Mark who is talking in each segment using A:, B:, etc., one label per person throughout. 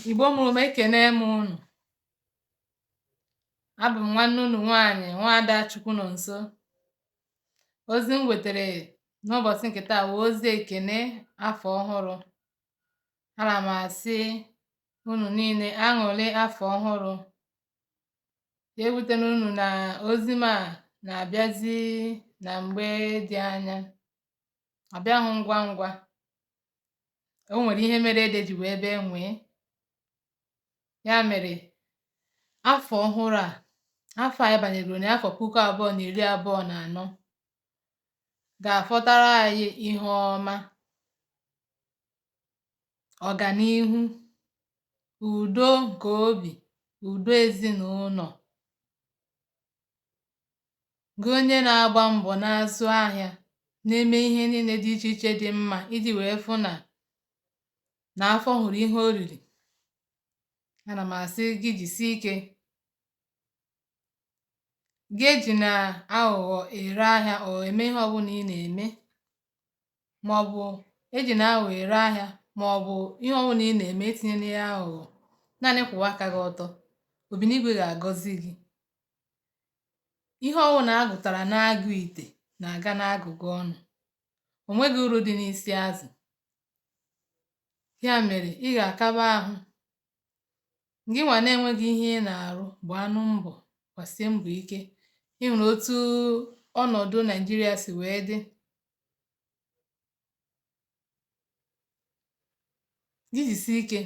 A: Igbo mụrụ m ekene m unu abụ m nwanne unu nwaanyị nwaada Chukwunọnso ozi m wetere n'ụbọchị nke taa wụ ozi ekene afọ ọhụrụ ana m asị unu niile aṅụrị afọ ọhụrụ ya ewutena unu na ozi m a na-abịazi na mgbe dị anya ọ bịahụ ngwa ngwa o nwere ihe mere ede ji wee bee nwee ya mere afọ ọhụrụ a afọ anyị banyegoro na afọ puku abụọ na iri abụọ na anọ ga-afọtara anyị ihe ọma ọganihu udo nke obi udo ezinụlọ gị onye na-agba mbọ na-azụ ahịa na-eme ihe niile dị iche iche dị mma iji wee fụ na na afọ hụrụ ihe oriri ana m asị gị jisie ike gị ejina aghụghọ ere ahịa or eme ihe ọbụla ị na-eme maọbụ ejina aghụghọ ere ahịa maọbụ ihe ọbụla ị na-eme etinyena ya aghụghọ naanị kwụwa aka gị ọtọ Obinigwe ga-agọzi gị ihe ọwụna a gụtara n'agụ ite na-aga n'agụga ọnụ o nweghị uru dị n'isi azụ ya mere ị ga-akaba ahụ gị nwa na-enweghị ihe ị na-arụ gbaanụ mbọ gbasie mbọ ike ị hụrụ otu ọnọdụ Naịjirịa si wee dị gị jisie ike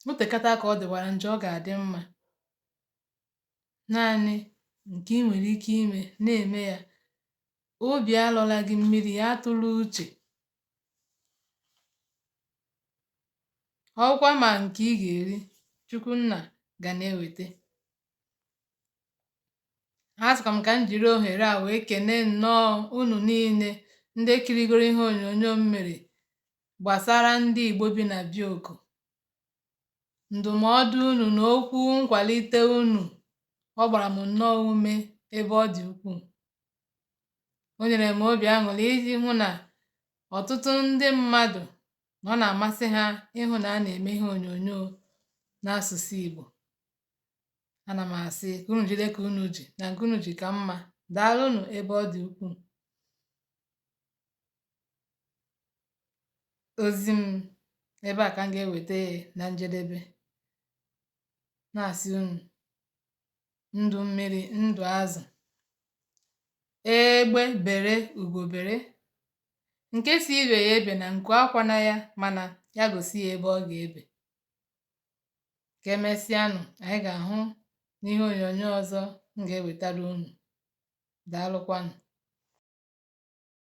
A: o tekata aka ọ dịwara njọ ọ ga-adị mma naanị nke i nwere ike ime na-eme ya obi alọla gị mmiri ya atụla uche ọkwa ma nke ị ga-eri Chukwu Nna ga na-eweta asịkwa m ka m jiri ohere a wee kene nnọọ unu niile ndị kirigoro ihe onyonyo m mere gbasara ndị Igbo bi na Bioko ndụmọdụ unu na okwu nkwalite unu ọ gbara m nnọọ ume ebe ọ dị ukwuu o nyere m obi aṅụrị iji hụ na ọtụtụ ndị mmadụ na ọ na-amasị ha ịhụ na a na-eme ihe onyonyo n'asụsụ Igbo ana m asị ka unu jide ka unu ji na nke unu ji ka mma daalụnụ ebe ọ dị ukwuu ozi m ebe a ka m ga-eweta na njedebe na-asị unu ndụ mmiri ndụ azụ egbe bere ugo bere nke sị ibe ya ebena nku akwana ya mana ya gosi ya ebe ọ ga-ebe ka emesịanụ anyị ga-ahụ n'ihe onyonyo ọzọ m ga-ewetara unu daalụkwanụ